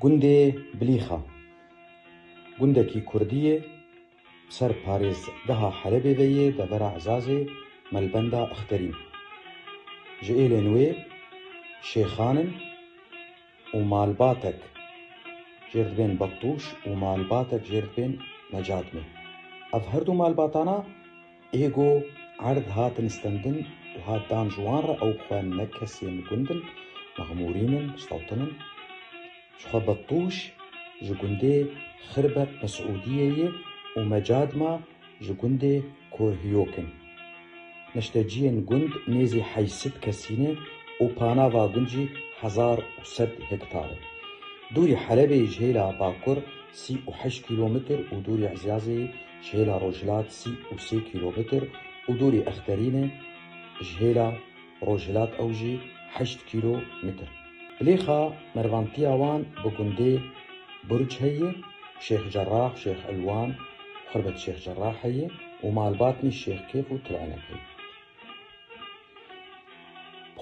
Gundê Bilîxa gundekî kurdî yê bi ser parêzgeha Helebê ve yê devera Ezazê Melbenda Ixterîn. Ji êlên wê şêxan in û malbatek jêr dibên Bettûş û malbatek jêr dibên Mecadmê. Ev her du malbatana, Ê go erd hatin stendin û hat dan ji wan re ew xwe ne kesên gund in, ne xmûrîn in, sewtin in. Ji xwe Bettûş ji gundê Xirbet Mesûdiyê ye û me Cadma ji gundê Korhiyok in. Neşteciyên gund nêzî heysit kesî ne û panava gund jî hezar û sed hektar e. Dûrî Helebê ji hêla bakur sî û heşt kîlometr û dûrî Ezyazê ji hêla rojhilat sî û sê kîlometr û dûrî Exterîn e, ji hêla rojhilat ew jî heşt kîlo mitr. Bilêxa mervantiya wan bi gundê Burc heye, Şêx Cerrah, Şêx Elwan, Xurbet Şêx Cerrah heye û malbatnî Şêx Kêf û Til Enek heye.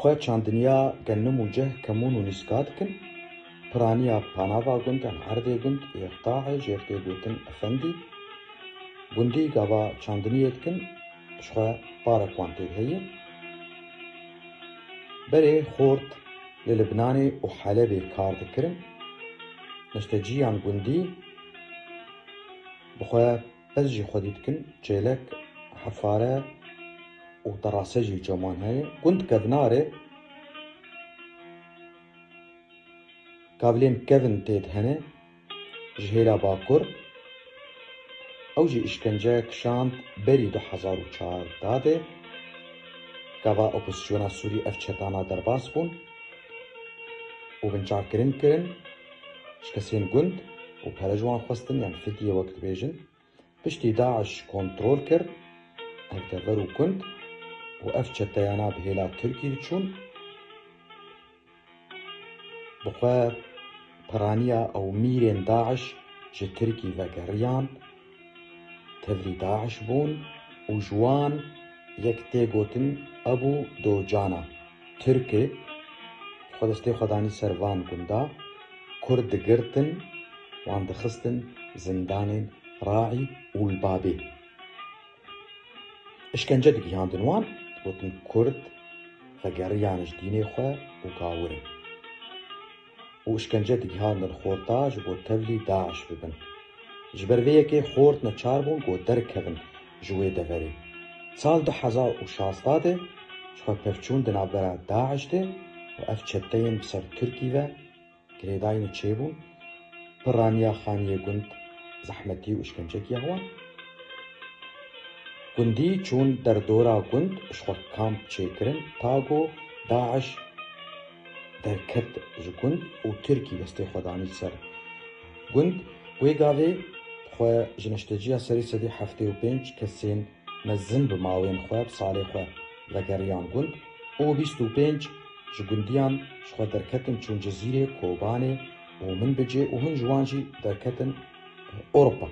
Xwe çandiniya genim û cih, kemun û nîska dikin. Piraniya panava gund em erdê gund yê Rtaê jêr tê gotin Efendî. Gundî gava çandiniyê dikin ji xwe parek wan tê heye. Berê xort li Libnanê û Helebê kar dikirin. Nişteciyan gundî bi xwe. Ez jî xwedî dikim çêlek, hefare û terase jî çaman heye. Gund kevna rê kavilên kevn têd hene ji hêla bakur. Ew jî îşkence kişand berî du hezar û çardeh de. Gava opozîsyona Sûrî ev çetana derbas bûn û binçavkirin kirin. Ji kesên gund û pere ji wan xwestin yan fidyê wek dibêjin, piştî DAIŞ kontrol kir ev dever û gund û ev çeteyana bi hêla Tirkî diçûn bi xwe piraniya ew mîrên DAIŞ ji Tirkî vegeriyan Tevlî DAIŞ bûn û ji wan yek tê gotin Ebû Dojana. Tirk e. Xwe destê xwe danî ser van gunda. Kurd digirtin, wan dixistin zindanên Raî û Lbabê. Îşkence digihandin wan, digotin Kurd vegeriyan ji dînê xwe û gawir in. û îşkence digihandin xorta ji bo tevlî DAIŞ bibin. Ji ber vê yekê xort neçar bûn ku derkevin ji wê deverê. Sal du hezar û şazdeh de ji xwe pevçûn di navbera DAIŞ de û ev çeteyên bi ser Tirkî ve girêdayînê çêbûn, bi raniya xaniyê gund zehmetî û îşkence giya wan. Gundî çûn derdora gund ji xwe kamp çêkirin ta ku DAIŞ. Derket ji gund û Tirkî destê xwe danî ser gund. Wê gavê xwe ji neşteciya serî sedî heftê û pênc kesên mezin bi mawên xwe bi salê xwe vegeriyan gund û bîst û pênc ji gundiyan ji xwe derketin çûn Cizîrê, Kobanê û Minbicê û hin ji wan jî derketin Ewropa.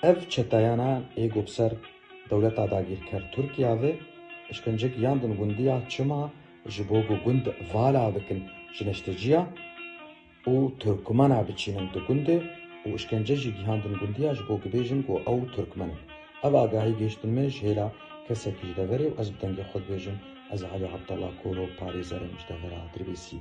Ev çeteyana ê got ser dewleta dagîrker Tirkîya ve, îşkence giyandin gundiya çima, Ji bo ku gund vala bikin ji neşteciya û Tirkmena biçînin di gundê û îşkence jî gihandin gundiya ji bo ku bêjin ku ew Tirkmen in. Ev agahî gihiştin min ji hêla kesekî ji deverê û ez bi dengê xwe dibêjim ez Alî Abdallah Koro parêzerê Mijdevera Dirbêsiyê.